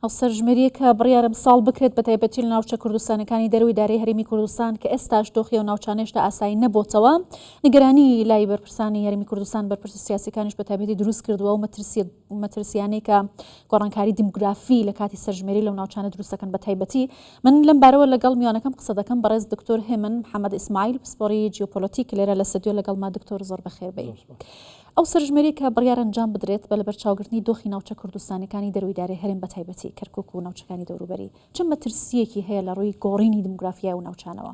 ئەو سەرژمێرییە کە بڕیارە ئەمساڵ بکرێت بەتایبەتی لە ناوچە کوردستانەکانی دەرەوەی دارای هەرێمی کوردستان کە ئێستاش دۆخی ئەو ناوچانەیش تا ئاسایی نەبۆتەوە نیگەرانی لای بەرپرسانی هەرێمی کوردستان بەرپرسە سیاسیەکانیش بەتایبەتی دروست کردووە ئەو مەترسیە مەترسیانەی کە گۆڕانکاری دیموگرافی لە کاتی سەرژمێری لەو ناوچانە دروستەکەن بەتایبەتی من لەم بارەوە لەگەڵ میوانەکەم قسە دەکەم بەڕێز دکتۆر هێمن محەممەد ئیسماعیل پسپۆری جیۆپۆلۆتیک لێرە لە سەدیۆ لەگەڵ ما دکتۆر زۆر بەخێربێی ئەو سەرژمێرەی کە بڕیارە ئەنجام بدرێت بە لەبەرچاوگرتنی دۆخی ناوچە کوردستانیەکانی دەرووی دارێ هەرێم بەتایبەتی کەرکوک و ناوچەکانی دەوروبەری چ مەترسییەکی هەیە لە ڕووی گۆڕینی دمگرافیای ئەو ناوچانەوە؟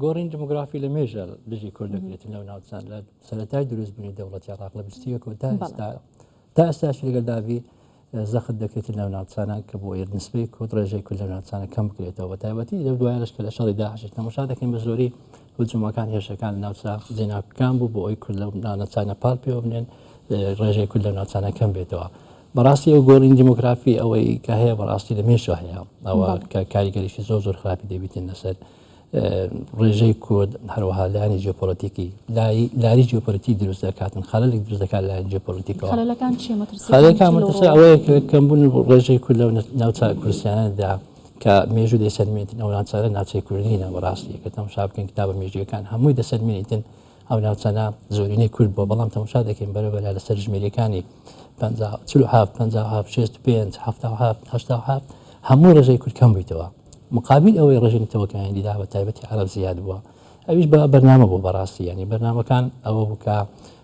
گۆڕینی دمگرافی لە مێژە دژی کورد دەکرێت لەو ناوچان لە سەرەتای دروستبوونی دەوڵەتی عێراق لە بیست و یەک و تا ئێستا تا ئێستاش لەگەڵ دابی زەخت دەکرێتە لەو ناوچانە کە بۆ یەت نسبەی کورد ڕێژەی کورد لەو ناوچانە کەم بکرێتەوە بە تایبەتی لەو دوایانەش کە لە شەڕی داعش تەماشا دەکەین بە زۆری هجوومەکان هێرشەکان ناوچە جێناکەکان بوو بۆ ئەوی کورد لەو ناوچانە پاڵ پێوە بنێن ڕێژەی کورد لەو ناوچانە کەم بێتەوە بەڕاستی ئەو گۆڕین دیموگرافی ئەوەی کە هەیە بەڕاستی لە مێشە هەیە ئەوە کە کاریگەریشی زۆر زۆر خراپی دەبیتن لەسەر ڕێژەی کورد هەروەها لایانی جیۆپۆلیتیکی لاری جیۆپۆلیتی دروست دەکاتن خەلک دروست دەکات لایەن جیۆپۆلیتیکەوە ئەوەیە کەمبوون ڕێژەی کورد لەو ناوچە کوردستاندا کە مێژوو دەسەلمێتن ئەو ناوچارە ناوچەی کوردینە بەڕاستی کە تەمشا بکەن کتابە مێژوەکان هەمووی دەسەلمێنیتن ئەو ناوچانە زۆرینەی کورد بۆ بەڵام تەمشا دەکەین بەرە بەلا لەسەر ژمێریەکانی 5 5 5 5 هەموو ڕێژەی کورد کەم بوویتەوە مقابیل ئەوەی ڕێژەی نەتەوەکانی دیدا بە تایبەتی عەرەب زیاد بووە ئەویش بە بەرنامە بوو بەڕاستی یانی بەرنامەکان ئەوە بوو کە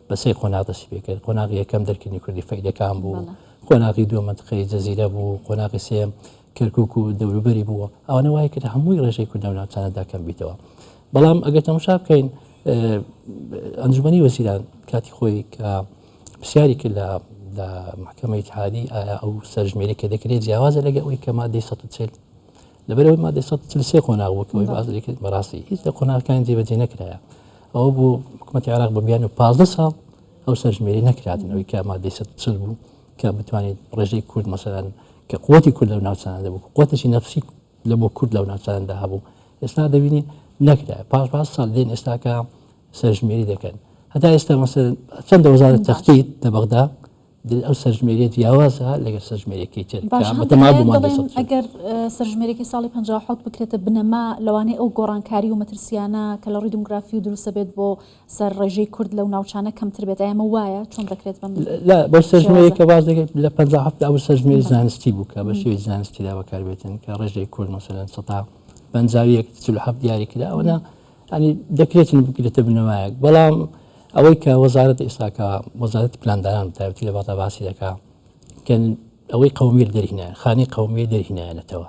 بە سێ قۆناغ دەستی پێ کرد قۆناغی یەکەم دەرکردنی کوردی فەیلەکان بوو بەڵێ قۆناغی دووەم منتقەی جەزیرە بوو قۆناغی سێم کەرکووک و دەوروبەری بووە ئەوانە وای کرد هەمووی ڕێژەی کورد لەو ناوچانەدا کەم بیتەوە بەڵام ئەگەر تەماشا بکەین ئەنجومەنی وەزیران کاتی خۆی کە پرسیاری کرد لە لە محکمە اتحادی ئایا ئەو سەرژمێری کە دەکرێت جیاوازە لەگە ئەوی کە مادەی 140 لەبەرەوەی مادەی 143 قۆناغ بوو کەەوەی باز دەکرێت بەڕاستی هیچ لە قۆناغەکانی جێبەجێ نەکرایە ئەوە بوو حکوومەتی عراق بە بیان و 15 ساڵ ئەو سەرژمێری نەکراتنەوەی کە مادەی 140 بوو کە بتوانێت ڕێژەی کورد مەسەران کە قوتی کورد لەو ناوچانە دەبوو قوتیی نەفسی لە بۆ کورد لەو ناوچاندا هەبوو ئێستا دەبینین نەکرا پاش پاش ساڵ دێن ئێستاکە سەرژمێری دەکەن هەتا ئێستا مەسەر چەندە وەزارت تەختی لە بەغدا ئەو سەرژمێریت یاوازە لەگەر سەرژمێرێکی ئەگەر سەرژمێرێکی ساڵی 1970 بکرێتە بنەما لەوانەیە ئەو گۆڕانکاری و مەترسیانە کە لە ڕووی دموگرافی و دروستە بێت بۆ سەر ڕێژەی کورد لەو ناوچانە کەمتر بێت ئەیا ئەمە وایە چۆن دەکرێت بەم لا بەو سەرژمێرەی کە باس دەکەیت لە پەنجا هەفتا ئەو سەرژمێری زانستی بوو کە بە شێوەی زانستیدا بەکاربێتن کە ڕێژەی کورد مەسەلەن سەدا پەنجاویەک چل و هەفت دیاری کرا ئەوەنا ینی دەکرێتن بکرێتە بنەمایەک بەڵام ئەوەی کە وەزارەت ئێستاکە وەزارەت پلاندانان تایبەتی لە بەغدا باسی دەکا کە ئەوەی قەومیر دەرهینایە خانی قەومیە دەرهینایەنەتەوە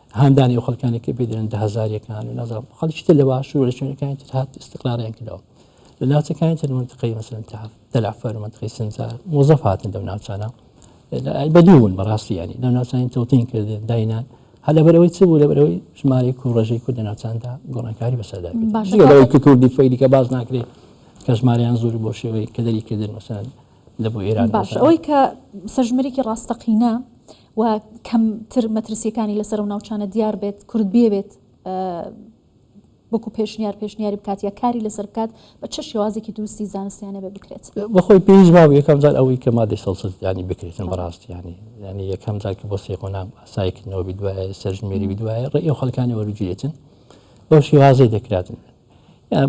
هاندانی ئەو خەڵکانێک کە پێ دەێن دە هزاریەکان و نازان خەڵکی تر لە باشوور لە شوێنەکانی تر هات استقلالیان کردەوە لە ناوچەکانی تر منتقی مەسەن تاف تەلافەر و منتقی سنجار مۆزەف هاتن لەو ناوچانە بەدوون بەڕاستی ینی لەو ناوچانی تەوتین کردن داینان هەل لە بەرەوەی چ بوو لە بەرەوەی ژمارەی کوڕژەی کورد لە ناوچاندا گۆڕانکاری بەسەردا باشەوەی کە کوردی فەیلیکە باز ناکرێت کە ژماریان زۆر بۆ شێوەی کە دەری کردن مەسەن لە بۆ ئێران باش ئەوەی کە سەژمەرێکی ڕاستەقینە و کەم تر مەترسیەکانی لەسەر ئەو ناوچانە دیار بێت کورد بیەوێت وەکو پێشنیار پێشنیاری بکات یا کاری لەسەر بکات بە چ شێوازێکی دروستی زانستیانە بێ بکرێت بەخۆی پێویست باو یەکەم جار ئەوەی کە مادەی سەڵسەستیانی بکرێتن بەڕاستیانی ینی یەکەم جار کە بۆ سێ قۆنام سایکردنەوە دوایە سەرژمێری دوایە ڕێ ئەو خەکانی وەرگێتن بەو شێوازەی دەکراتن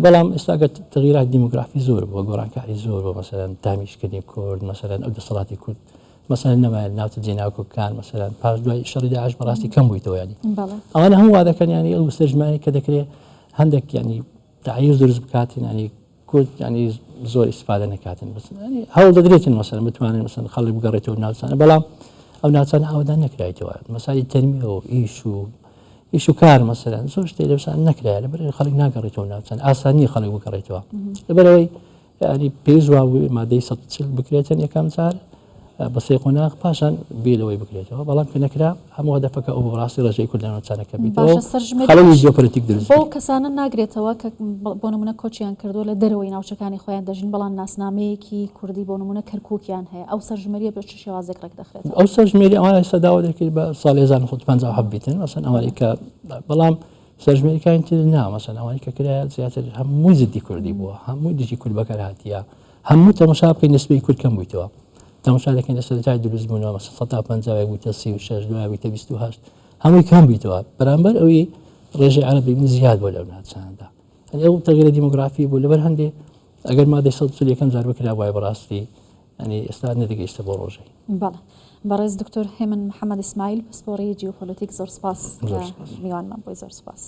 بەڵام ئێستا گەر تغیرات دیموگرافی زۆر بۆ گۆڕانکاری زۆر بۆ مەسەرەن تامیشکردنی کورد مەسەرەن ئەو دەسەڵاتی کورد مەسەر نەمایە ناوچە جێناکۆکان مەسەرەن پاش دوای شەڕی داعش بەڕاستی کەم بوویتەوە ینی ئەوانە هەم وادەکەن ینی ئەو سەرژمانی کە دەکرێت هەندێک ینی تعیز دروست بکاتین ینی کورد ینی زۆر ئیسفادە نکاتن بس هەوڵ دەدرێتن مەسەر بتوانن مەسن خەڵی بگەڕێتەوە ناوچانە بەڵام ئەو ناوچانە ئاوادان نەکرایتەوە مەسای تەرمیەوە ئیش و ئیش و کار مەسەرەن زۆر شتێ لەسان نەکرای لە بەر خەڵک ناگەڕێتەوە ناوچەن ئاسانی خەڵک بگەڕێتەوە لەبەرەوەی ینی پێش وا مادەی سە چل بکرێتن یەکەم جار بە سێ قۆناغ پاشان بێلەوەی بکرێتەوە بەڵام کە نەکرا هەموو دەفەکە ئەو ڕاستی ڕژەی کوردانەوە چارەکە بیتەوەڵی جۆپەرتیک درست بۆ کەسانە ناگرێتەوە کە بۆ نمونە کۆچیان کردووە لە دەرەوەی ناوچەکانی خۆیان دەژین بەڵام ناسنامەیەکی کوردی بۆ نمونە کەرکووکیان هەیە ئەو سەرژمەریە بە چ شێوازێک ڕێکدەخرێتەوە. ئەو سەرژمێری ئەوان ئێستا داوا دەکرێت بە ساڵی 1950 بیتن مەسەن ئەوانەی کە بەڵام سەرژمێریەکانی تر نا مەسەن ئەوانی کە کرایە زیاتر هەمووی زدی کوردی بووە هەمووی دژی کورد بەکار هااتە هەموو تەمەشا بکەین نسبی کورد کەم بوویتەوە تەمەشا دەکەین لە سەرای دروست بوون 1950 بوویتە 36 دوای بوویتە 28 هەمووی کەم بیتەوە بەرامبەر ئەوی ڕێژەی عربی من زیاد بۆ لەو ناچاندا ئەو تەغیرە دیموگرافی بوو لەبەر هەندێک ئەگەر مادەی سەد یەکەم جار بکرا وای بەڕاستی یانی ئێستا نەدەگەیشتە بۆ ڕۆژەی. بەڵێ بەڕێز دکتۆر هێمن محمد اسماعیل پسپۆڕی جیوپۆلۆتیک زۆر سپاس کە میوانمان بوی زۆر سپاس.